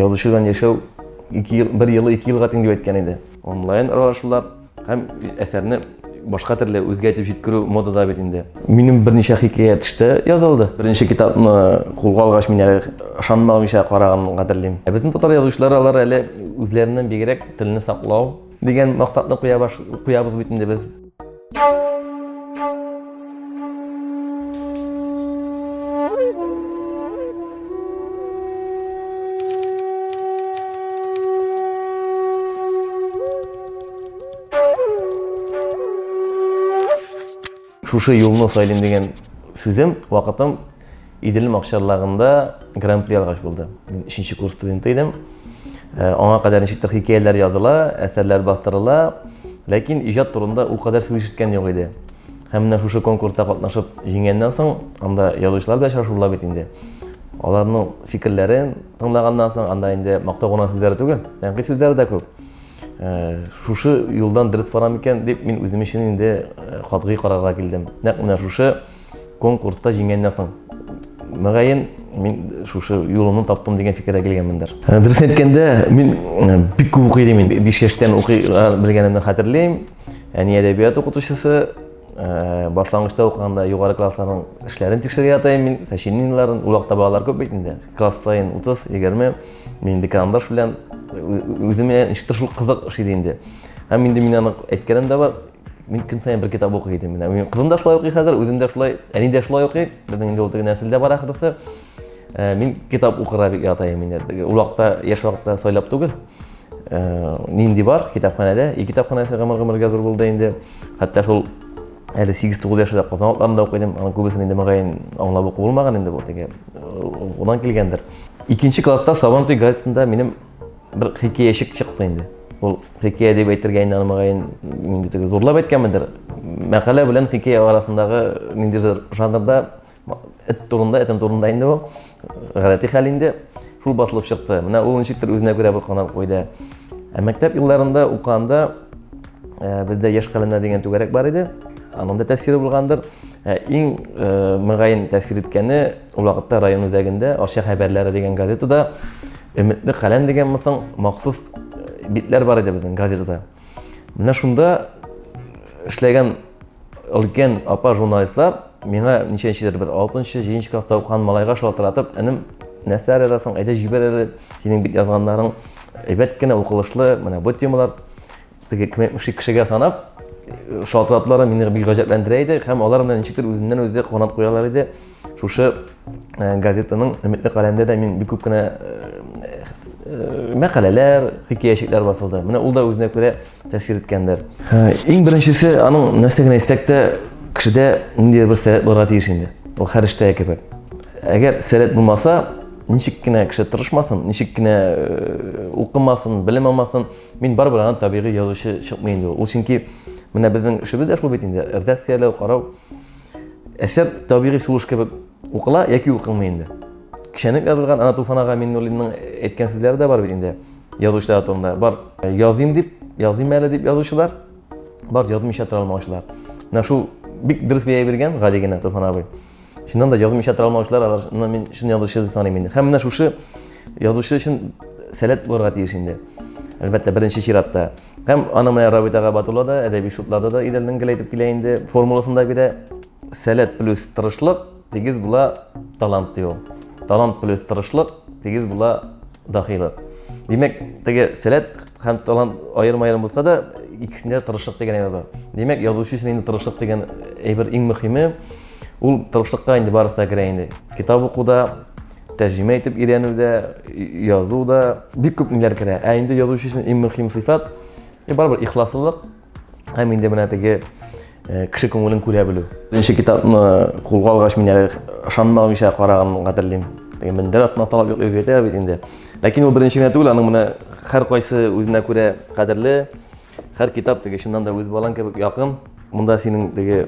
Язучы белән яшәү ике ел, бер елы ике елга тиң дип әйткән иде. Онлайн аралашулар һәм әсәрне башка төрле үзгә итеп җиткерү модада бит инде. Минем берничә хикәя төштә язылды. Беренче китапны кулга алгач мин әле ышанмагымча караган гадерлим. Ә безнең татар язучылары алар әле үзләреннән бигрәк телне саклау дигән максатны куябыз бит инде без. шушы юлны сайлыйм деген сүзем вакытым Идел Макчарлагында гран-при алгач булды. Мин 3 курс студенты идем. Э, аңа кадәр ничектер хикәяләр языла, әсәрләр бастырыла, ләкин иҗат турында ул кадәр сүз ишеткән юк иде. Һәм менә шушы конкурста катнашып җиңгәннән соң, анда язучылар белән очрашу була бит инде. Аларның фикерләрен тыңлаганнан соң, анда инде мактау гына сүзләре түгел, тәнкыйть сүзләре дә күп. Э, шушы юлдан дөрес барам икән дип мин үзем өчен инде э, катгый карарга килдем. Нәкъ менә шушы Конкурста җиңгәннән соң, мөгаен, мин шушы юлымны таптым дигән фикергә килгәнмендер. Ә, дөрес әйткәндә, мин ә, бик күп укый идем. Мин 5 яшьтән укый белгәнемне хәтерлим. Әни әдәбият укытучысы, ә, башлангычта укыганда югары классларның эшләрен тикшерергә ята идем мин, сочинениеләрен. Ул вакытта балалар күп бит инде. Класс саен 30, 20. Мин инде карандаш белән үземә ничектер шул кызык ошый инде. Һәм инде мин аны әйткәнем дә бар, Мин көн саен бер китап укый идем. Менә минем кызым да шулай укый хәзер, үзем дә шулай, әни дә шулай укый. Безнең инде ул теге нәселдә бар ахрысы. Э, мин китап укырга бик ятаем инде. Ул вакытта яшь вакытта сайлап түгел. Э, нинди бар китапханәдә? И китапханәсе гомер-гомергә зур булды инде. Хәтта шул әле 8-9 яшьтә Казан атларында укыдым. Аның күбесен инде мөгаен аңлап уку булмаган инде бу теге. Э, Унан килгәндер. Икенче класста Сабантуй газетында минем Бер хикәячек чыкты инде. Ул хикәя дип әйтергә инде алмагайын, инде теге зурлап әйткәнмендер. Мәкалә белән хикәя арасындагы ниндидер жанрда эт турында, этем турында инде ул. Гадәти хәл инде шул басылып чыкты. Менә ул ничектер үзенә күрә бер канат куйды. Ә мәктәп елларында уканда э, бездә яшь каләмнәр дигән түгәрәк бар иде. Аның да тәэсире булгандыр. Ә иң э, мөгаен тәэсир иткәне Ул вакытта район үзәгендә Арча хәбәрләре дигән газетада Өметле каләм дигән мысын махсус э, битләр бар иде безнең газетада. Менә шунда эшләгән өлкән апа журналистлар миңа ничәнчедер бер 6-нчы, 7-нче класста укыган малайга шалтыратып, энем, нәрсә язасың, әйдә җибәр әле, синең бит язганнарың әйбәт кенә укылышлы, менә бу темалар теге кем әйтмешли кешегә санап шалтыратлары мине бик гаҗәпләндерә иде һәм алар менә ничектер үзеннән үзе канат куялар иде шушы э, газетаның өметле каләмендә дә мин бик күп кенә э, э, мәкаләләр хикәячекләр басылды менә ул да үзенә күрә тәэсир иткәндер иң беренчесе аның нәрсә генә истәк тә кешедә ниндидер бер сәләт булырга тиеш инде ул хәрештә кебек әгәр сәләт булмаса ничек кенә кеше тырышмасын ничек кенә укымасын белем алмасын Мин барыбер аны табигый язучы чыкмый инде ул. Ул чөнки менә безнең эшебез дә шул бит инде. Редакцияләү, карау. Әсәр табигый сулыш кебек укыла яки укылмый инде. Кешәнеп язылган ана Туфан ага Миннуллинның әйткән сүзләре дә бар бит инде. Язучылар турында бар э, языйм дип, языйм әле дип язучылар, бар язмыйча тора алмаучылар. Менә шул бик дөрес бәя биргән гади генә Туфан абый. Чыннан да язмыйча тора алмаучылар, аларны мин чын язучы дип саныйм инде. Һәм менә шушы язучы өчен сәләт булырга тиеш инде. Әлбәттә, беренче чиратта. Һәм аны менә Рабит ага Батулла да, әдәби шутларда да идәннән гел әйтеп килә инде. Формуласында бирә сәләт плюс тырышлык тигез була талант ди ул. Талант плюс тырышлык тигез була дахилык. Димәк, теге сәләт һәм талант аерым-аерым булса да, икесендә тырышлык дигән әйбер бар. Димәк, язучы өчен инде тырышлык дигән әйбер иң мөһиме. Ул тырышлыкка инде барысына керә инде. Китап укуда, тәрҗемә итеп өйрәнүдә, язуда бик күп ниләр керә. Ә инде язучы өчен иң мөһим сыйфат э, барыбер ихласлылык һәм инде менә теге э, кеше күңелен күрә белү. Беренче китапны кулга алгач мин әле ышанмагымча караганмын хәтерлим. Теге мендәр атына талап юк өйрәтә бит инде. Ләкин ул беренче генә түгел, аның менә һәркайсы үзенә күрә кадерле. Хәр китап теге чыннан да үз балаң кебек якын. Монда синең теге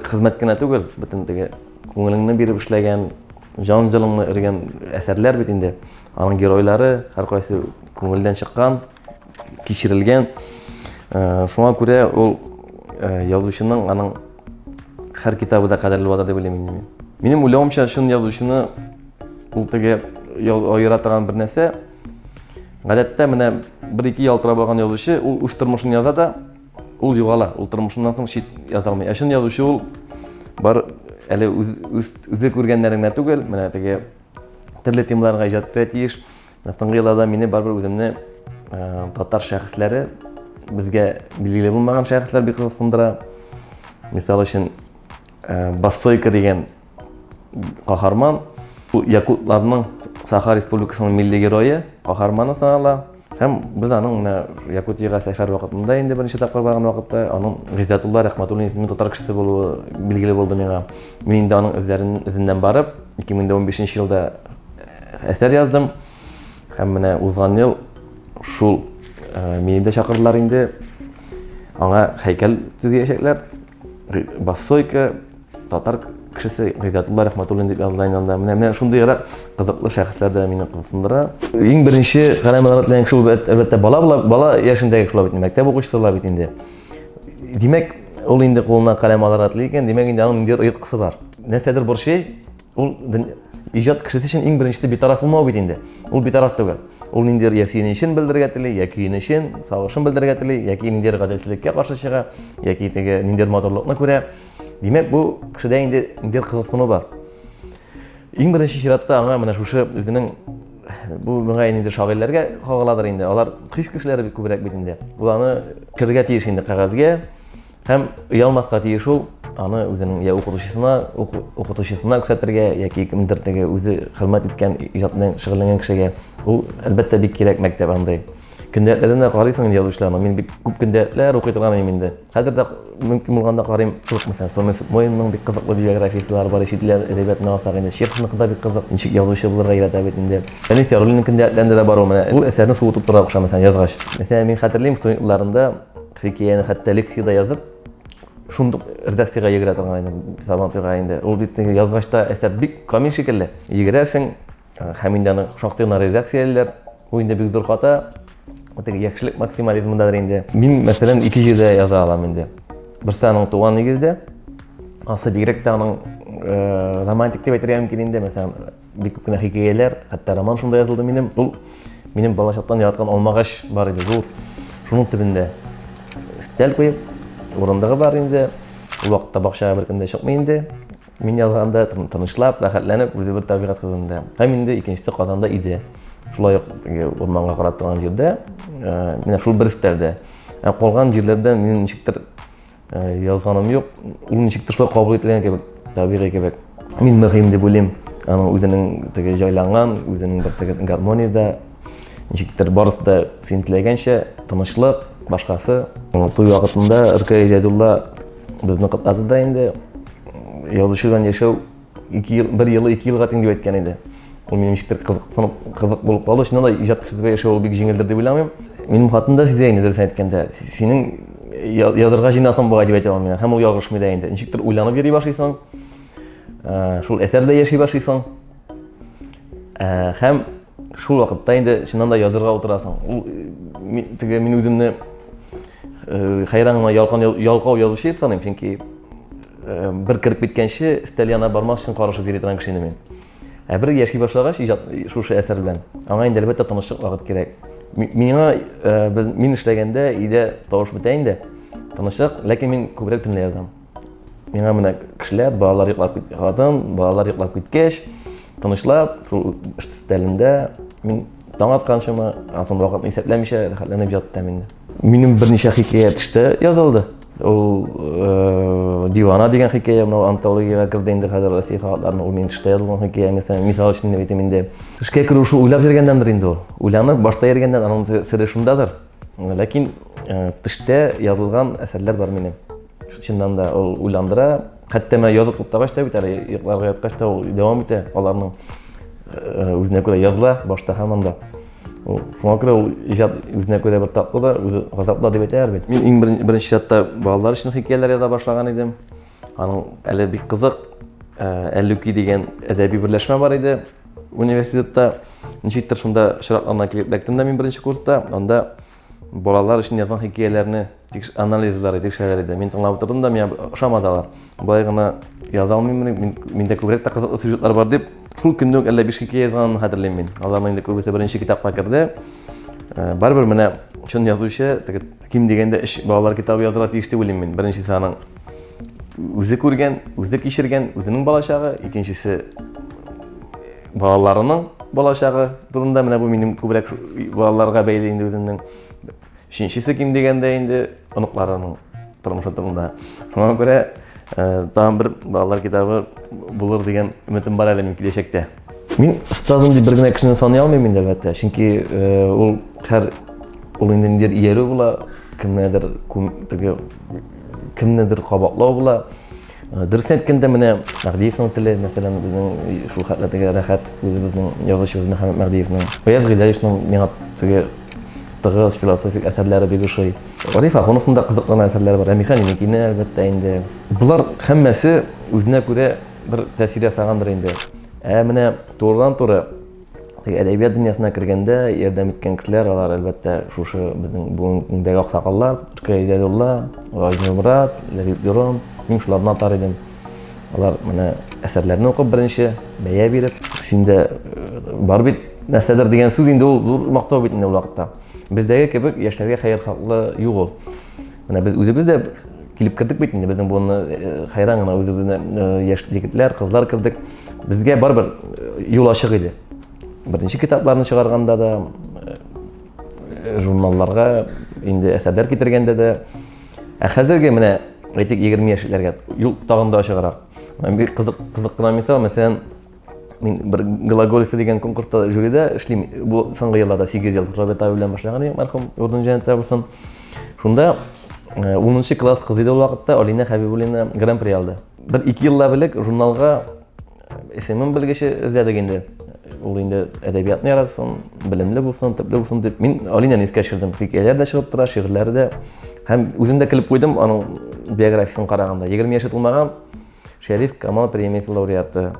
хезмәт кенә түгел, бөтен теге күңелеңне биреп эшләгән, жан җылыңны эргән әсәрләр бит инде. Аның геройлары һәркайсы күңелдән чыккан, кичерелгән. Э, шуңа күрә ул э, язучының аның хәр китабы да кадерле булады дип уйлыйм мин. Минем уйлавымча, чын язучыны ул теге аера торган бер нәрсә, Гадәттә менә бер ике ялтырап алган язучы ул үз тормышын яза да ул югала, ул тормышыннан соң чит ята алмый. Ә чын язучы ул бар әле үз, үз, үзе күргәннәрен генә түгел, менә теге төрле темаларга иҗат итә тиеш. Соңгы елларда мине барыбер үземне ә, татар шәхесләре безгә билгеле булмаган шәхесләр бик кызыксындыра. Мисал өчен, ә, Бассойка дигән Каһарман якутларның Саха Республикасының милли герое, каһарманы санала. Һәм без аның менә Якутиягә сәфәр вакытында инде беренче тапкыр барган вакытта аның Гыйззәтулла Рәхмәтуллин исемле татар кешесе булуы билгеле булды миңа. Мин инде аның эзләрен эзеннән барып, 2015 елда э, әсәр яздым. Һәм менә узган ел шул э, мине дә чакырдылар инде. Аңа һәйкәл төзиячәкләр. Бассойка татар кешесе Гыйдатулла Рәхмәтуллин дип языла инде Менә менә шундыйрак кызыклы шәхесләр дә мине кызыксындыра. Иң беренче каләм рәтләнгән шул әлбәттә бала була, бала яшендәге шулай бит, мәктәп укучысы була бит инде. Димәк, ул инде кулына каләм алыр рәтле икән, димәк инде аның ниндидер оеткысы бар. Нәрсәдер борчый, Ул иҗат кешесе өчен иң беренче битараф булмау бит инде. Ул битараф түгел. Ул ниндидер я сөенечен белдерергә тели, я көенечен, сагышын белдерергә тели, яки ниндидер гаделсезлеккә каршы чыга, яки теге ниндидер матурлыкны күрә. Димәк, бу кешедә инде ниндидер кызыксыну бар. Иң беренче чиратта аңа менә шушы үзенең бу миңа инде шагыйрьләргә кагыладыр инде. Алар хис кешеләре бит күбрәк бит инде. Ул аны керергә тиеш инде кәгазьгә, Һәм оялмаска тиеш ул, аны үзенең я укытучысына, укытучысына күрсәтергә, яки кемдер теге үзе хезмәт иткән иҗат белән шөгыльләнгән кешегә. Ул, әлбәттә, бик кирәк мәктәп андый. Көндәлекләрдән дә карыйсың инде язучыларны. Мин бик күп көндәлекләр укый торган идем инде. Хәзер дә мөмкин булганда карыйм. Күп мәсәлән, Сомес Моинның бик кызыклы биографиясылары бар, чит ил әдәбиятына алсак инде. Чеховныкы да бик кызык. Ничек язучы булырга өйрәтә бит инде. Фәнис Яруллинның көндәлекләрендә дә бар ул менә. Ул әсәрне суытып тора охшамый, язгач. Мәсәлән, мин хәтерлим, студент елларында Хикәяне хәтта лекцияда язып, шундук редакциягә йөгерә торган идем сабан туйга инде ул бит язгач та әсәр бик камил шикелле йөгерәсең һәм инде аны шактый гына редакциялиләр бу инде бик зур хата теге яхшылык максимализмындадыр инде мин мәсәлән ике җирдә яза алам инде берсе аның туган нигездә асы бигрәк тә аның романтик дип әйтергә мөмкин инде мәсәлән бик күп кенә хикәяләр, хәтта роман шунда язылды минем. Ул минем балачактан яраткан алмагач бар иде, зур. Шуның төбендә өстәл куеп, урындыгы бар инде. Ул вакытта бакчага беркем дә чыкмый инде. Мин язганда тынычлап, рәхәтләнеп, үзе бер табигать кызында. Һәм инде икенчесе Казанда иде. Шулай ук урманга карап торган җирдә, э, менә шул бер өстәлдә. Ә калган җирләрдә минем ничектер Язганым юк, ул ничек тышлап кабул ителгән кебек, табигый кебек. Мин мөһим дип уйлыйм. Аның үзенең теге җайланган, үзенең бер теге гармониядә ничектер барысы да син теләгәнчә тынычлык, башкасы. Туй вакытында Ркай Җәдулла безне котлады да инде. Язучы белән яшәү ике ел, бер елы ике елга тиң дип әйткән иде. Ул минем ничектер кызык, кызык булып калды. Чыннан да иҗат кеше дип яшәү ул бик җиңелдер дип уйламыйм. Минем хатын да сизә инде дөресен әйткәндә. Синең язырга җыйнасын бугай дип әйтә алмыйм. Һәм ул ялгышмый да инде. Ничектер уйланып йөри башлыйсың. Ә, шул әсәрдә яши башлыйсың. Ә, һәм шул вакытта инде чыннан да язырга утырасың ул э, теге мин үземне э, хәйран гына ялкан ялкау язучы дип саныйм чөнки э, бер кереп киткәнче өстәл янына бармас өчен карашып йөри торган кеше инде мин ә бер яши башлагач иҗат шушы әсәр белән аңа инде әлбәттә тынычлык вакыт кирәк миңа мин эшләгәндә өйдә тавыш бетә инде тынычлык ләкин мин күбрәк төнлә язам миңа менә кешеләр балалар йоклап кит хатын балалар йоклап киткәч тынычлап шул эш өстәлендә мин таң атканчыма атын вакытны исәпләмичә рәхәтләнеп яттым инде минем берничә хикәя төштә язылды ул э, дивана дигән хикәя мынау антологиягә керде инде хәзер россия халыкларының ул минем төштә язылган хикәя мәсәлән мисал өчен әйтим инде эшкә керү шул уйлап йөргәндәндер инде ул уйланып башта йөргәндән аның сере шундадыр Ләкин э, төштә язылган әсәрләр бар минем. Чыннан да ул уйландыра. Хәтта менә язып туктагач та бит әле йокларга яткач та ул дәвам итә аларның э, үзенә күрә языла башта һаман да. Ул шуңа күрә ул иҗат үзенә күрә бер татлы да, үзе газаплы дип әйтәләр бит. Мин иң беренче, беренче чатта балалар өчен хикәяләр яза башлаган идем. Аның әле бик кызык э, Әллүки дигән әдәби берләшмә бар иде. Университетта ничектер шунда чиратларына килеп эләктем дә мин беренче курста. Анда балалар өчен язган хикәяләрне анализлары тикшерәләр иде. Мин тыңлап утырдым да, миңа ошамады алар. Болай гына яза алмыйммыни, мин, миндә күбрәк тә кызыклы сюжетлар бар дип, шул көнне үк әллә биш хикәя язганымны хәтерлим мин. Аларның инде күбесе беренче китапка керде. Э, барыбер менә чын язучы, теге Ким дигәндә өч балалар китабы язырга тиеш дип уйлыйм мин. Беренчесе аның үзе күргән, үзе кичергән, үзенең балачагы, икенчесе балаларының балачагы турында, менә бу минем күбрәк балаларга бәйле инде үземнең. Өченчесе ким дигәндә инде оныкларының тормышы турында. Шуңа күрә э, тагын бер балалар китабы булыр дигән өметем бар әле мин киләчәктә. Мин остазым дип бер генә кешене саный алмыйм инде, әлбәттә. Чөнки ул һәр ул инде ниндидер иярү була, кемнедер теге кемнедер кабатлау була. Дөресен әйткәндә, менә Мәһдиевның теле, мәсәлән, безнең шул хәтле теге рәхәт үзебезнең язучыбыз Мөхәммәд Мәһдиевның. Гаяз Гыйлаевның миңа теге тыгыз философик әсәрләре бик ошый. Гариф Ахуновның да кызыклы әсәрләре бар. Ә Михаил Никинә, әлбәттә, инде. Болар һәммәсе үзенә күрә бер тәэсир ясагандыр инде. Ә менә турыдан-туры әдәбият дөньясына кергәндә ярдәм иткән кешеләр алар әлбәттә шушы безнең бүгенгедәге аксакаллар Ркай Идәдулла, Гайз Нурмурат, Ләбиб Юрон, мин шуларны атар идем. Алар менә әсәрләрне укып беренче бәя биреп, синдә э, бар бит нәрсәдер дигән сүз инде ул зур мактау бит инде ул вакытта. Бездәге кебек яшьләргә хәер хаклы юк ул. Менә без үзебез дә килеп кердек бит инде безнең буынны э, хәйран гына үзебезне э, яшь егетләр, кызлар кердек. Безгә барыбер э, юл ачык иде. Беренче китапларны чыгарганда да журналларга инде әсәрләр китергәндә дә ә хәзерге менә әйтик 20 яшьләргә юл тагын да ачыграк. Бик кызык кызык кына мисал, мәсәлән, мин бер глаголица дигән конкурста жюрида эшлим бу соңгы елларда сигез ел роберт абый белән башлаган идем мәрхүм урын җәнәттә булсын шунда э, унынчы класс кызы иде ул вакытта алина хәбибуллина гран при алды бер ике еллап элек журналга исемем белгече эзләдек инде ул инде әдәбиятны яратсын белемле булсын төпле булсын дип мин алинаны искә төшердем хикәяләр дә чыгып тора шигырьләре дә һәм үзем дә көлеп куйдым аның биографиясен караганда егерме яше тулмаган Шәриф Камал премиясе лауреаты,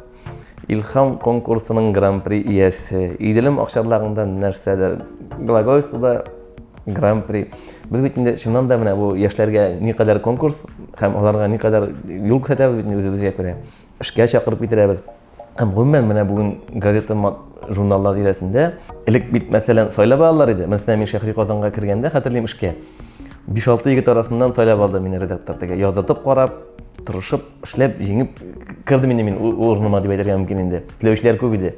Илхам конкурсының гран-при иясе, Иделем акчарлагында нәрсәдер, Глагольствода гран-при. Без бит инде чыннан да менә бу яшьләргә никадәр конкурс һәм аларга никадәр юл күрсәтәбез бит үзебезгә күрә. Эшкә чакырып китерәбез. Һәм гомумән менә бүген газета журналлар тирәсендә элек бит мәсәлән сайлап алалар иде. Мәсәлән, мин Шәһри Казанга кергәндә хәтерлим эшкә. 5-6 егет арасыннан сайлап алды мине редактор. Тегә ядатып карап, тырышып, эшләп, җиңеп кырды мине мин урыныма дип әйтергә мөмкин инде. Теләүчеләр күп иде.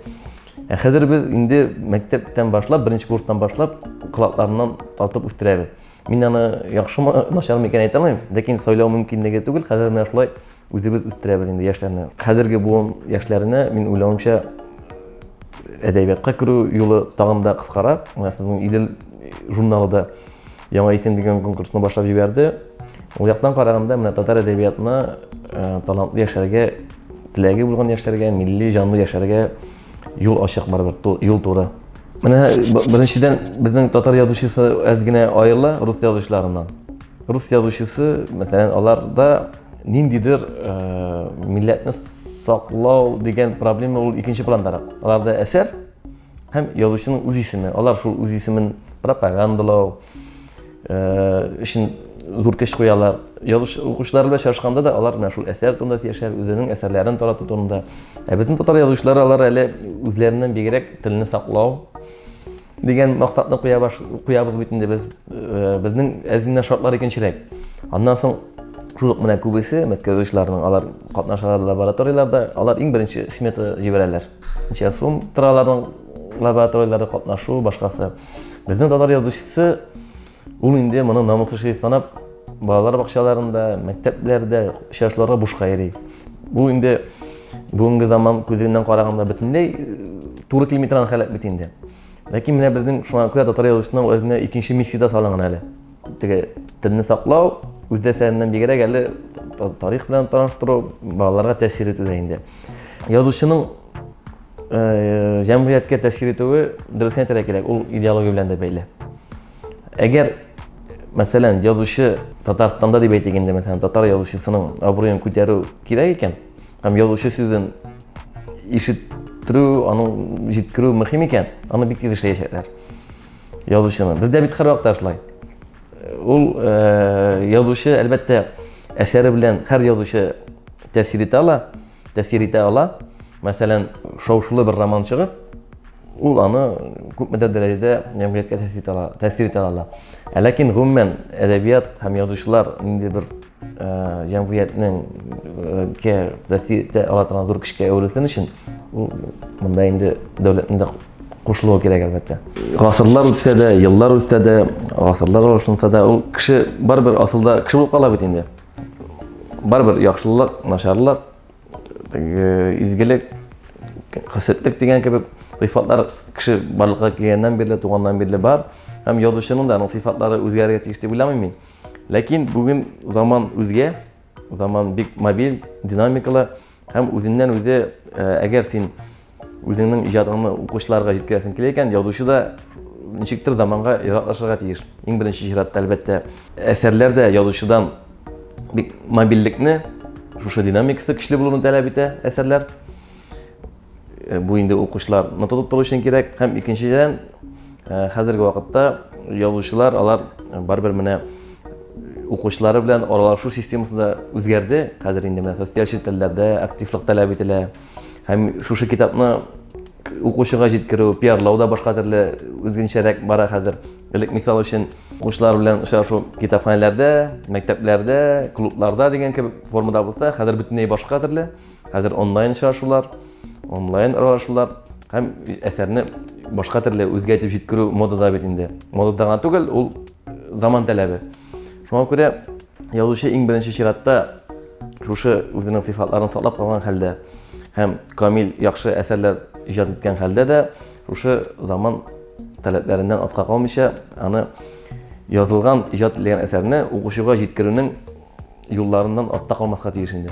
Ә хәзер без инде мәктәптән башлап, беренче курстан башлап, кылакларыннан тартып үстерәбез. Мин аны яхшымы, начармы икән әйтә алмыйм, ләкин сайлау мөмкинлеге түгел, хәзер менә шулай Үзебез үстерәбез инде яшьләрне. Хәзерге буын яшьләренә мин уйлавымча әдәбиятка керү юлы тагын да кыскарак. Менә сезнең Идел журналы да яңа исем дигән конкурсны башлап җибәрде. Ул яктан караганда менә татар әдәбиятына э, талантлы яшьләргә, теләге булган яшьләргә, милли җанлы яшьләргә юл ачык барыбер, юл туры. Менә беренчедән безнең татар язучысы әз генә аерыла рус язучыларыннан. Рус язучысы, мәсәлән, аларда Ниндидер милләтне саклау дигән проблема ул икенче пландарак. Аларда әсәр һәм язучының үз исеме. Алар шул үз исемен пропагандалау өчен зур көч куялар. Язучы укучылар белән чагышканда да алар менә шул әсәр турында сөйләшәләр, үзенең әсәрләрен тарату турында. Ә безнең татар язучылары алар әле үзләреннән бигрәк телне саклау, Дигән мактатны куя баш куябыз бит инде без. Э, безнең әзминә шартлар икенчерәк. Аннан соң шул ук менә күбесе мәткәзүчләрнең алар катнашалар лабораторияләрдә, алар иң беренче смета җибәрәләр. Ничә сум тора аларның лабораторияләрдә катнашу, башкасы. Безнең татар язучысы Ул инде моны намуслы шрифт санап, балалар бакчаларында, мәктәпләрдә очрашуларга бушка йөри. Бу инде бүгенге заман күзеннән караганда бөтенләй туры килми торган халәт бит инде. Ләкин менә безнең шуңа күрә татар язучысының үзенә икенче миссия дә салынган әле. Теге телне саклау, үз дәсәреннән бигрәк әле тарих белән таныштыру, балаларга тәэсир итү дә инде. Язучының җәмгыятькә тәэсир итүе дөресен әйтергә кирәк ул идеология белән дә бәйле әгәр мәсәлән язучы татарстанда дип әйтик инде мәсәлән татар язучысының абруен күтәрү кирәк икән һәм язучы сүзен ишеттерү аның җиткерү мөһим икән аны бик тиз эшләячәкләр язучыны бездә бит һәрвакытта шулай ул язучы әлбәттә әсәре белән һәр язучы тәэсир итә ала тәэсир итә ала. Мәсәлән, шау-шулы бер роман чыгып, ул аны күпме дә дәрәҗәдә җәмгыятькә тәэсир итә ала, тәэсир итә ала. Ә ләкин гомумән әдәбият һәм язучылар нинди бер э, җәмгыятьнең ке тәэсир итә ала торган зур көчкә әверелсен өчен, ул монда инде дәүләтнең дә кушылуы кирәк әлбәттә. Гасырлар үтсә дә, еллар үтсә дә, гасырлар алышынса да, ул кеше барыбер асылда кеше булып кала бит инде. Барыбер яхшылык, начарлык, э, изгелек, хәсетлек дигән кебек сыйфатлар кеше барлыкка килгәннән бирле, туганнан бирле бар. Һәм язучының да аның сыйфатлары үзгәрергә тиеш дип уйламыйм мин. Ләкин бүген заман үзгә, заман бик мобиль, динамикалы. Һәм үзеннән-үзе, әгәр син үзеңнең иҗатыңны укучыларга җиткерәсең килә икән, язучы да ничектер заманга яраклашырга тиеш. Иң беренче чиратта, әлбәттә, әсәрләр дә язучыдан бик мобильлекне, шушы динамикасы көчле булуны таләп итә әсәрләр. Э, бу инде укучылар нота тоттыру өчен кирәк һәм икенчедән э, хәзерге вакытта язучылар алар э, барыбер менә укучылары белән аралашу системасы да үзгәрде хәзер инде менә социаль челтәрләрдә активлык таләп ителә һәм шушы китапны укучыга җиткерү пиарлау да башка төрле үзгенчәрәк бара хәзер элек мисал өчен укучылар белән очрашу китапханәләрдә мәктәпләрдә клубларда дигән кебек формада булса хәзер бөтенләй башка төрле Хәзер онлайн очрашулар, онлайн аралашулар һәм әсәрне башка төрле үзгә итеп җиткерү модада бит инде. Модада гына түгел, ул заман таләбе. Шуңа күрә язучы иң беренче чиратта шушы үзенең сыйфатларын саклап калган хәлдә һәм камил яхшы әсәрләр иҗат иткән хәлдә дә шушы заман таләпләреннән артка калмыйча аны язылган иҗат ителгән әсәрне укучыга җиткерүнең юлларыннан артта калмаска тиеш инде.